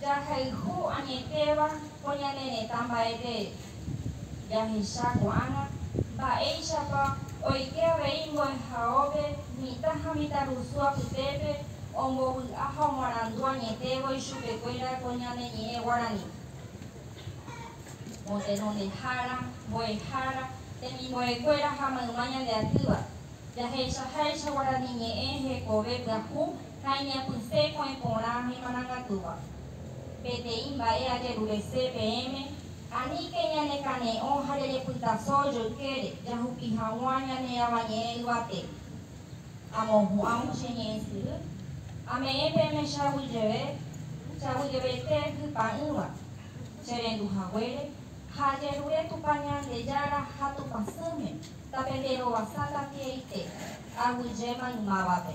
Jahayhu añetéva ko ñane retã mba'eve, jahecha ko'ág̃a mba'éichapa oike avei mbo'ehaópe mitã ha mitãrusu apytépe ombovy'a ha omoarandu añetévo ichupekuéra ko ñane ñe'ẽ guarani. Motenondehára, mbo'ehára, temimbo'ekuéra ha mayma ñande atýva, jahechaháicha guarani ñe'ẽ hekove pyahu, ha iñapysẽ ko'ẽ porã ha imarangatúva. Peteĩ mba'e ajerurese peẽme, aníke ñanekane'õ ha jajepytaso joykére jahupi hag̃ua ñane Avañe'ẽ yvate. Amohu'ãvo che ñe'ẽ syry, ame'ẽ peẽme che aguyjeve, che aguyjeveite hypa'ỹva, che rendu haguére, ha ajerure Tupã Ñandejára ha Tupãsýme, tape nde rovasáta tieite, aguyje maymávape.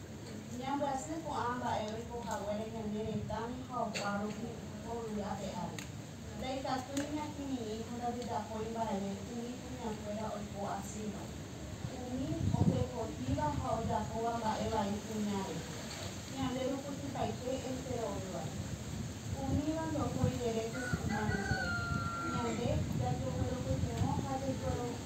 Ñambyasy ko'ã mba'e oiko haguére ñane retãme ha opa rupi ko yvy ape ári. Ndaikatúi ñakirirĩ ha ndajejapói mba'eve umi kuñakuéra oiko asýva. Umi ojepotíva ha ojapóva mba'e vai kuña rehe, ñande rukutypaite enterovéva. Umíva ndohói rere ko kuña rusépe. Ñande jajegueropytyvõ ha jaikuerovive.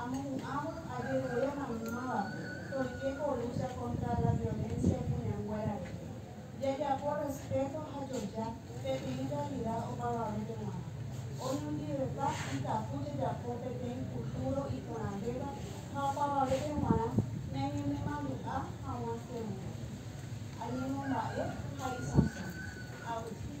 Amohu'ãvo ajerure maymávape toike ko lucha contra la violencia ipuneanguéra rehe. Jajapo respeto ha joja peteĩ realidad opavavépe g̃uarã. Oñondivepa ikatu jajapo peteĩ futuro iporãvéva ha opavavépe g̃uarã ñañenemandu'a hag̃ua heg̃ua. Añemomba'e ha isãso. Agustín.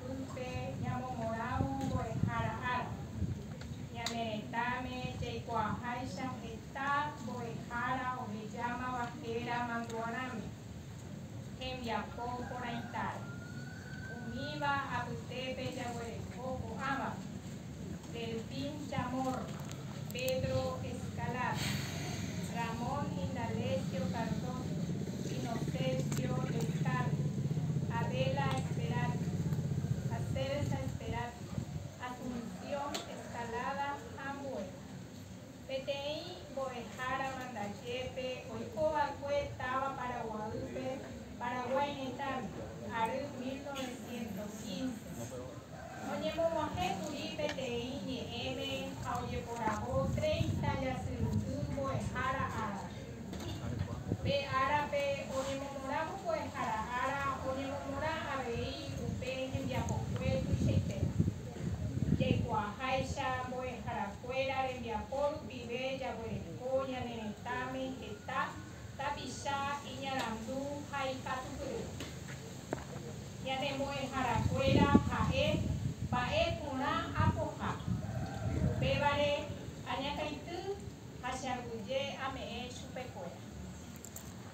Pype ñamomorãvo mbo'ehára ára. Ñane retãme jaikuaaháicha heta mbo'ehára ohejámava héra mandu'arãme, hembiapo porãitáre. Umíva apytépe jaguereko ko'ãva. Delfín Chamorro, Pedro Escalada, Ramón Indalecio Cardoso, Inocencio Lescano, Adela Esperanza, ha Celsa Esperanza, Asunción Escalada ha ambue. Peteĩ mbo'ehára Mandajépe oikova'ekue táva Paraguaýpe, Paraguái retãme, ary 1915. Oñemog̃uahẽ kuri peteĩ ñe'ẽme ha ojeporavo treinta jasyrundy mbo'ehára árape. Pe árape oñemomorã mbo'ehára ára oñemomorã avei upe hembiapokue tuichaitéva. Jaikuaaháicha mbo'eharakuéra rembiapo rupive jaguereko ñane retãme heta tapicha, iñarandu ha ikatupyry. Ñane mbo'eharakuéra ha'e mba'e porã apoha. Upévare añakãity ha che aguyje ame'ẽ chupekuéra.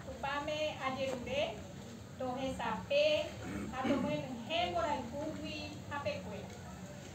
Tupãme ajerure tohesape ha tomyenyhẽ mborayhúgui hapekuéra.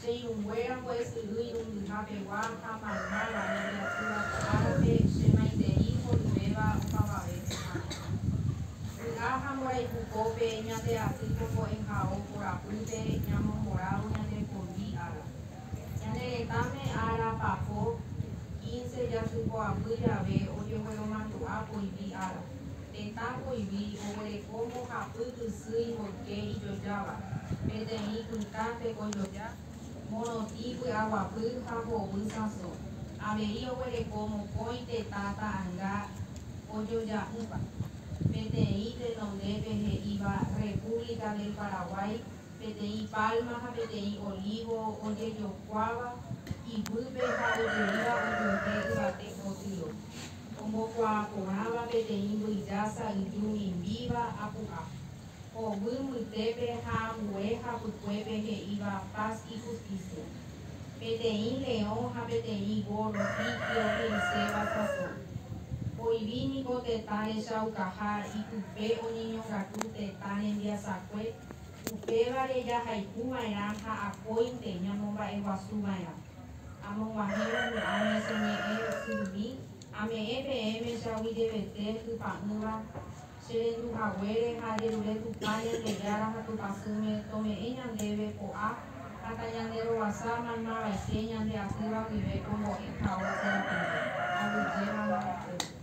Che irũnguéra pues yvy irũngyha pegua ha mayma guare iatýva ko árape, che maitei mboyvéva opavave pehára. Vy'a ha mborayhu pópe ñateaty ko ko'ẽhao korapýpe ñamomboravo ñandepondi ára. Ñane retãme ára papo, quince, jasypoapy jave ojegueromandu'a poyvi ára. Tetã poyvi oguereko mbohapy ysy ipoyke ijojáva, peteĩ pytã tekojoja, morotĩ py'aguapy ha hovy sãso. Avei oguereko mokõi tetã ta'anga ojoja'ỹva, peteĩ tenondépe he'íva República del Paraguay, peteĩ palma ha peteĩ olivo ojejokuáva iguýpe ha ojeríva ojuehe yvate potýro. Ombokuaa porãva peteĩ mbyjasa yju mimbíva apu'a, oguy mbytépe ha ambue hapykuépe he'íva Paz y Justicia. Peteĩ leõ ha peteĩ górro tigre ohe'iséva sasõ. Oĩvi niko tetã rechaukaha ipype oñeñongatu tetã rembiasakue, upévare jahaikuva'erã ha akóinte ñamomba'eguasuva'erã. amog̃uahẽvo mo'ã ñeseme'ẽ ysyrymi, ame'ẽ peẽme che aguyjevete hypa'ỹva, che rendu haguére ha ajerure Tupã Ñandejára ha Tupãsýme tome'ẽ ñandéve ko'a ha tañanderoguasa maymavaite ñande atýva guive ko mbo'ehaópe rapide, aguyjémava ha'e.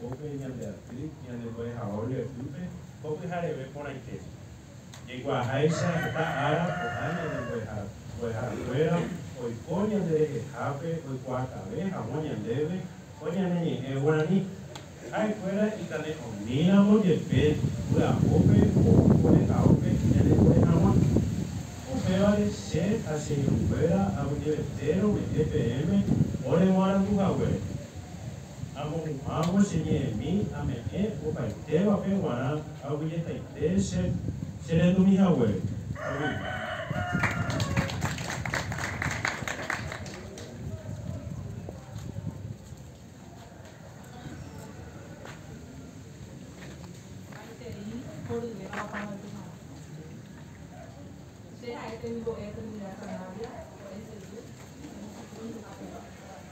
Upéi ñande aty ñande mbo'ehao mbo'eguýpe ko pyhareve porãite. Jaikuaaháicha heta ára ko'ã ñande mbo'ehakuéra oiko ñande rehehápe oikuaakave hag̃ua ñandéve ko ñane ñe'ẽ guarani. Ha'ekuéra ikane'õmíramo jepe vy'apópe ko mbo'ehaópe ñanepore hag̃ua. Upévare che ha che irũnguéra ag̃uivete rome'ẽ peẽme oreguarandu haguére. Amohu'ãvo che ñe'ẽmi ame'ẽ opaitévape g̃uarã aguyjetaite che che rendumi haguére. Aguyje.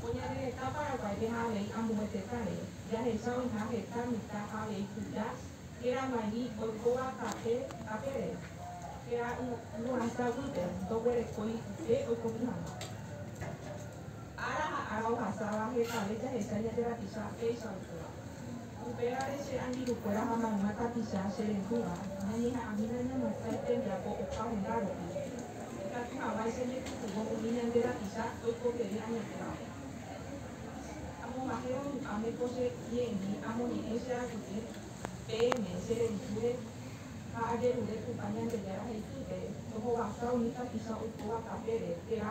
Ko ñane retã Paraguáipe ha avei ambue tetã rére, jahecha oĩha heta mitã ha avei Judas, héra Marí, oikóva tape tape rére, héra Yvonahita guýpe, ndoguerekói upe oikomi hag̃ua. Ára ha ára ohasáva hetave jahecha ñande rapicha péicha oikóvape. Upévare che angirũkuéra ha mayma tapicha che rehúva ñañeha'ãmína ñamo'ãi tembiapo opa hunda rupi. Ikatu hag̃uáicha ñepytyvõ umi ñande rapicha oikotevẽ añetévape. Amomahévo ru'ãme ko che ñe'ẽmi amoñe'ẽ che arapyty peẽme che revitúre ha ajerure Tupã Ñandejára he'ipýpe tohovasa umi tapicha oikóva tapére térã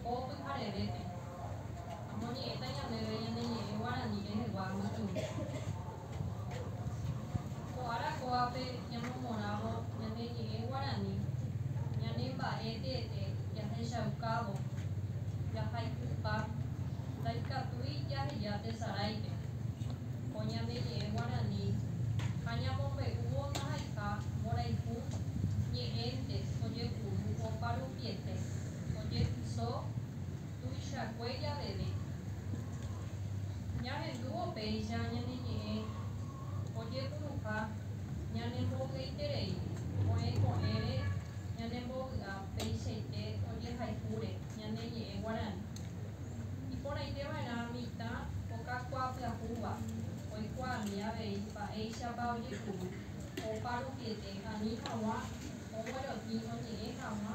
Ko pyharevépe, omoñe'ẽta ñandéve ñane ñe'ẽ guarani rehegua mbykymi. Ko ára kóape ñamomorãvo ñane ñe'ẽ guarani, ñane mba'e teete jahechaukávo jahayhupa ndaikatúi jaheja tesaráipe. Ko ñane ñe'ẽ guarani ha ñamombe'úvo ndahayha mborayhu ñe'ẽnte ojepuru oparupiete. ojetyso tuichakue javeve. Ñahendúvo péicha ñane ñe'ẽ ojepuruha ñane mboy'eiterei oĩ ko'ẽre ñane mbovy'a peichaite ojehayhúre ñane ñe'ẽ guarani. Iporãite va'erã mitã okakuaa pyahúva oikuaami avei mba'éichapa ojepuru opa rupiete ani haguã oguerotĩ oñe'ẽ haguã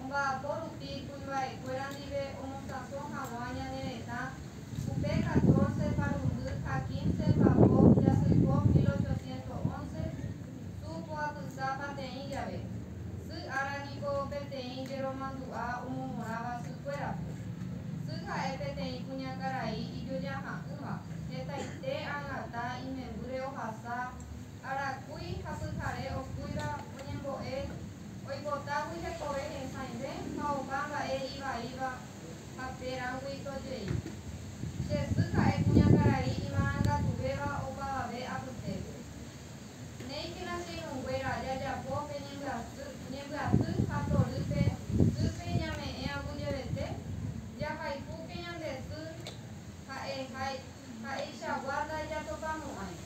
omba'apo rupi kuimba'ekuéra ndive omosãso hag̃ua ñane retã, upe catorce parundy ha quince papo jasykó mil ochocientos once, tu ko apyta pateĩ jave, sy ára niko peteĩ jeromandu'a omomorãva sykuérape. Sy ha'e peteĩ kuñakarai ijojaha'ỹva, hetaite ag̃ata imembýre ohasa, arakúi ha pyhare okúiva oñembo'e, Oipotágui hekove hesãive ha opa mba'e ivaíva ha térãgui to jey. Che sy ha'e kuñakarai imarangatuvéva opavave apytépe. Néikena che irũnguéra jajapo pe ñembyasy, ñembyasy ha torýpe sýpe iñame'ẽ aguyevete, jahaipúke ñande sy ha'e ha ha'eichagua ndaijatopamo'ãi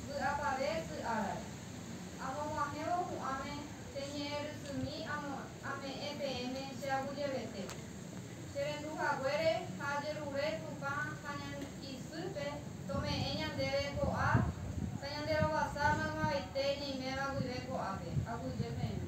vy'apave sy árare. Amog̃uahẽvo pu'ãme che ñe'ẽ rysými amo ame'ẽ peẽme che aguyevete. Che rendu haguére ha ajerure Tupã ha ñane isýpe tome'ẽ ñandéve ko'a ta ñande rovasa maymaveite ñeiméva guive ko'ápe, aguyje peẽme.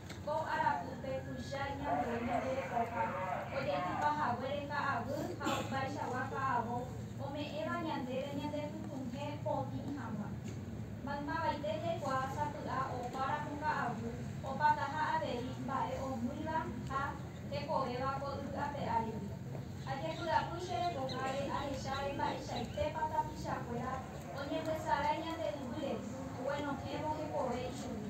Ko arapýpe tuicha iñambuéi ñande rekoha, ojaitypa haguére ka'aguy ha opaichagua ka'avo ome'ẽva ñandéve ñandepytũhẽ potĩ hag̃ua. Maymavaite jaikuaa sapy'a opa ramo ka'aguy opataha avei mba'e omýiva ha hekovéva ko yvy ape áregui. Ajepy'apy che rekoháre ahecháre mba'eichaitépa tapichakuéra oñembysarái ñande yvýre oguenohẽvo hekove ichugui.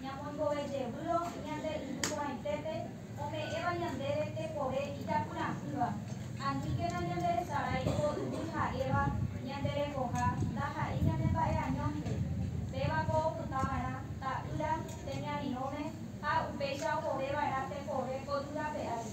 Ñamoingove jevývo ñande Irũ Porãitépe ome'ẽva ñandéve tekove ijapyra'ỹva. Aníkena ñanderesarái ko yvy ha'éva ñande rekoha ndaha'éi ñane mba'eañónte. Péva ko opyta va'erã ta'ýra temiarirõme ha upéicha opove va'erã tekove ko yvy rape ári.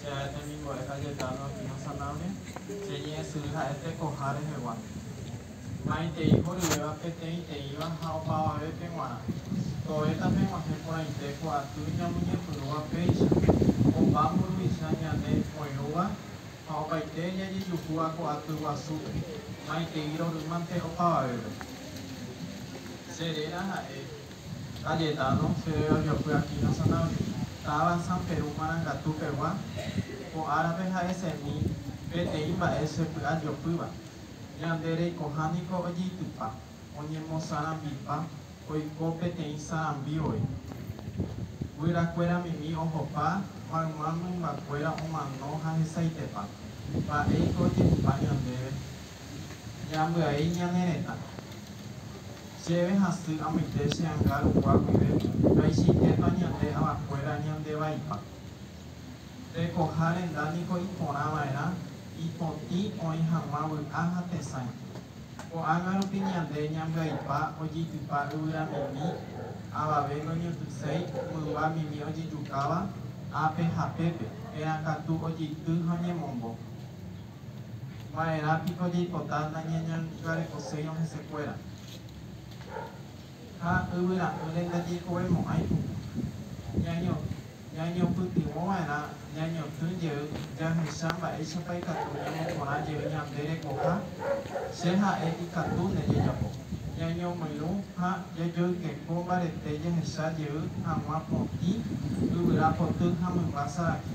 Che ae temimbo'e ha jeta nohína sanáme, che ñe'ẽsyry ha'e tekoha rehegua. Maitei horyvéva peteĩteĩva ha opavavépe g̃uarã, tovéta peg̃uahẽ porãite ko aty ñamoñepyrũva péicha, opa mburuvicha ñane oirũva ha opaite jajejuhúva ko aty guasúpe, maitei rorýmante opavavépe. Che réra ha'e. Cayetano, chéve avy'apy aquí Nacional, táva San Peru Marangatu pegua, ko árape ha'esemi peteĩ mba'e chepy'a jopýva. Ñande reikoha niko ojeitypa, oñemosarambipa oiko peteĩ sarambi voi. Guyrakuéra mimi ohopa, mayma mymbakuéra omano ha hesaitepa. Mba'éiko ojehupa ñandéve? Ñambyai ñane retã. Chéve hasy amoite che anga rukua guive vaichaitépa ñande avakuéra ñande vaipa. Tekoha renda niko iporã va'erã ipotĩ oĩ hag̃ua vy'a ha tesãi. Ko'ág̃a rupi ñande ñambyaipa ojeitypa yvyramimi, avave noñotyséi mymba mimi ojejukáva ápe ha pépe, térã katu ojeity ha oñemombo. Va'erã piko jaipota nañañangarekoséirõ hesekuéra? Ha yvyra'ỹre ndajeikovemo'ãi ku. Ñañopytyvõ va'erã ñañotỹ jey jahecha mba'éichapa ikatu ñamoporã jey ñande rekoha Che ha'e ikatu nde jajapo. Ñañomoirũ ha jajoykeko mbarete jahecha jey hag̃ua potĩ yvyra poty ha mymba sarakĩ.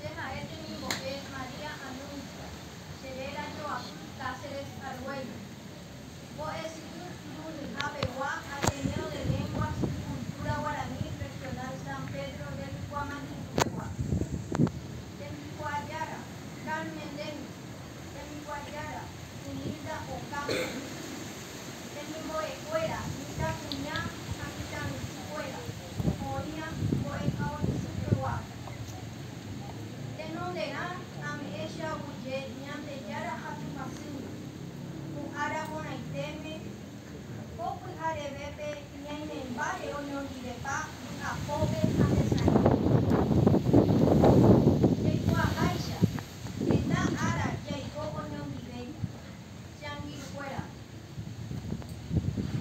Che ha'e temimbo'e María Anuncia, che réra joapy Cáceres Argüello. Mbo'esyry mburuviha pegua Ateneo de Lenguas y Cultura Guaraní Regional San Pedro del Guamañu'u pegua. Tembikuaajára, Carmen Lemus. Hembikuaajára, Humilda Ocampo. Hemimbo'ekuéra, mitãkuña ha mitãrusukuéra, oĩva mbo'ehaovysupegua. Tenonderã ame'ẽ che aguyje Ñandejára hasyhasýgui, ko ára porãitéme, ko pyharevépe ñaimémbare oñondivepa vy'apópe ha tesarirõme. Jaikuaaháicha, Heta ára jaiko oñondive Changirukuéra.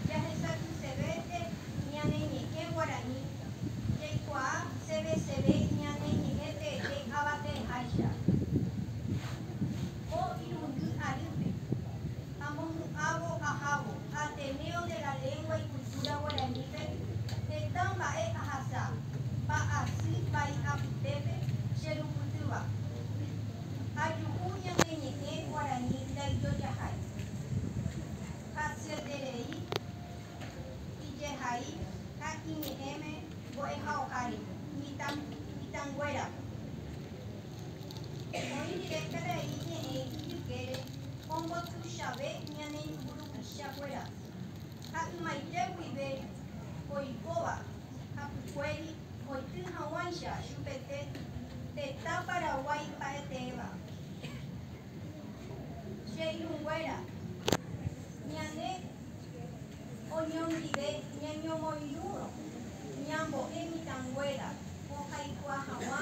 Jahesakysevénte ñane ñe'ẽ guarani jaikuaa seveseve ñane ñe'ẽ teete avate'ẽháicha ko irundy arýpe. Amopu'ãvo ahávo Ateneo de la Lengua y Cultura Guaranípe heta mba'e ahasa, mba'asy vai apytépe che rupytýva. Ajuhu ñane ñe'ẽ guarani ndaijojahai, hasyeterei, ijehai ha iñe'ẽme mbo'ehaoha rehe mitãnguérape. Oĩ rire karai ñe'ẽ ijykére ombotuichave ñane mburuvicha kuéra, ha ymaite guive oikóva hapykuéri oity haguãicha chupete tetã Paraguái mba'eteéva. Che irũnguéra, ñane oñondive ñañomoirũrõ ñambo'e mitãnguéra ohaikua haguã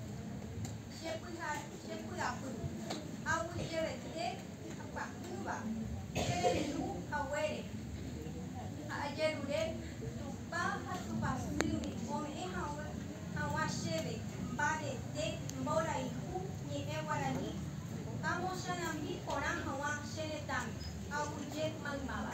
Chepy'apy aguyjevete ipyahýva cherendu haguére ha ajerure Tupã ha Tupãsýgui ome'ẽ hag̃ua chéve mbarete mborayhu ñe'ẽ guarani amosarambi porã hag̃ua che retãme aguyje maymáva.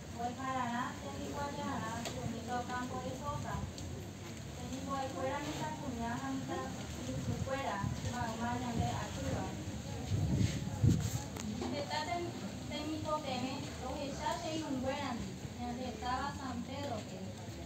Mbo'ehararãnte hikuái jarã mitã okámpo rehóga, temimbo'ekuéra mitãkuña ha mitãrusukuéra mayma ñande atýva. Heta temikotevẽ rohecha che irũnguérandi ñande táva San Pédrope.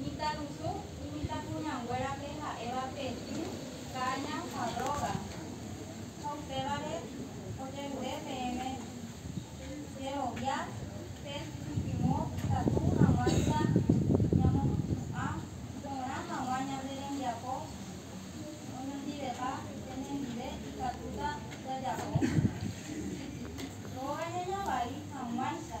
Mitãrusu imitãkuñanguérape ha'éva Petĩ, Káña ha Róga, ha upévare ojerure peẽme jerovia pe ñepyrũ ikatu hag̃uáicha ñamopu'ã porã hag̃ua ñande rembiapo oñondivepa penendive ikatúta jajapo Róga ñañavai hag̃uáicha.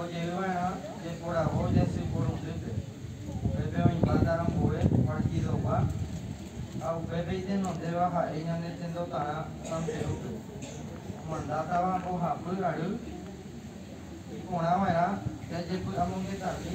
Ojerova'erã jeporavo jasy porundýpe, upépe oĩmbáta ambue partidogua ha upépe itenondéva ha'e ñane tendotarã Santerúpe. Omandátava mbohapy ary, iporãva'erã jajepy'amongetami.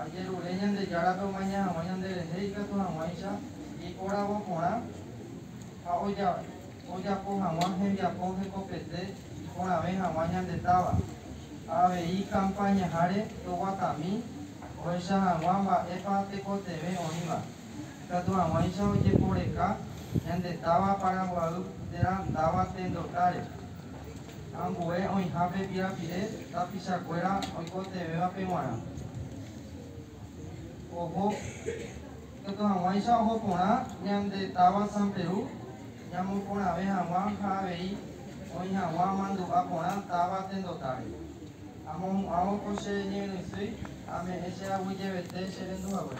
Ajerure Ñandejárape omaña hag̃ua ñanderehe ikatu hag̃uáicha ipóravo porã ha ojapo hag̃ua hembiapo hekopete iporãve hag̃ua ñande táva. Ha avei kampáñaháre toguatami ohecha hag̃ua mba'épa tekotevẽ oĩva. Ikatu hag̃uáicha ojeporeka ñande táva Paraguaýpe térã ndáva tendotáre. Ambue oĩha pe pirapire tapichakuéra oikotevẽvape g̃uarã. Oho, ikatu hag̃uáicha oho porã ñande táva San Perú ñamoporãve hag̃ua ha avei oĩ hag̃ua amandu'a porã táva tendotáre. Amohu'ãvo ko che ñe'ẽrysýi, ame'ẽ che aguyjevete che rendu hague.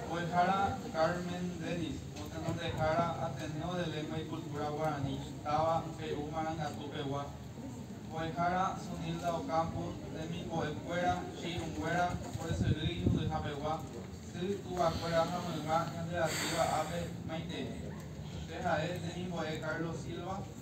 Mbo'ehára Carmen Dennis, Motenondehára Ateneo de Lengua y Cultura Guaraní, táva Pe'u Marangatu pegua. Mbo'ehára Sunilda Ocampo, Temimbo'e kuéra, Chiirũnguéra, Mbo'esyry Iñuhýha pegua, Sy, Túva kuéra ha Mayma ñanderatýva ápe, Maitei. Pe ha'e, Temimbo'e Carlos Silva.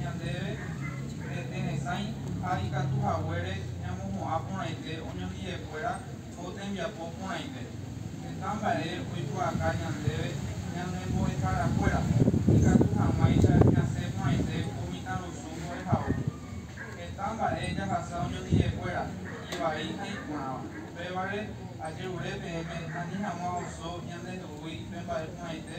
ñandéve rete resãi ha ikatu haguére ñamohu'ã porãite oñondi'ekuéra ko tembiapo porãite. Heta mba'e oikuaaka ñandéve ñane mbo'eharakuéra, ikatu hag̃uáicha ñasẽ porãite ko mitãrusu mbo'ehaópe. Heta mba'e jahasa oñondi'ekuéra, ivai ha iporãva. Upévare, ajerure peẽme ani hag̃ua oso ñanderu'úi pe mba'e porãite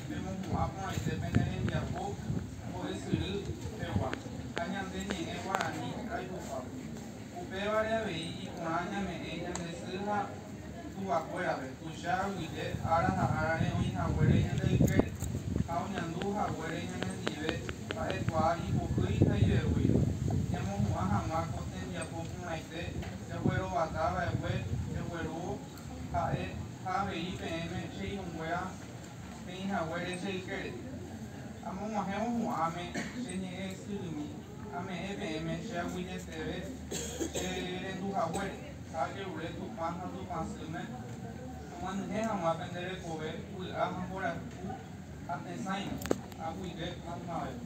Pemopu'ã porãite pene rembiapo mbo'esyry pegua ha ñande ñe'ẽ guarani raipokuápe. Upévare avei iporã ñame'ẽ ñande sy ha tuvakuérape tuicha aguyje ára ha árare oĩ haguére ñande ykére ha oñandu haguére ñanendive mba'ekuaa ipohýi ha iveguýiva. Ñamohu'ã hag̃ua ko tembiapo porãite jaguerovata va'ekue jaguerúvo ha'e ha avei peẽme che irũnguéra Peẽ haguére che ykére, amog̃uahẽvo hu'ãme che ñe'ẽ ysyrymi, ame'ẽ peẽme che aguyjeteve che rendu haguére, ha ajerure Tupã ha Tupã sýme, amyanyhẽ hag̃ua pende rekove vy'a ha mborayhu ha tesãime, aguive maymavépe.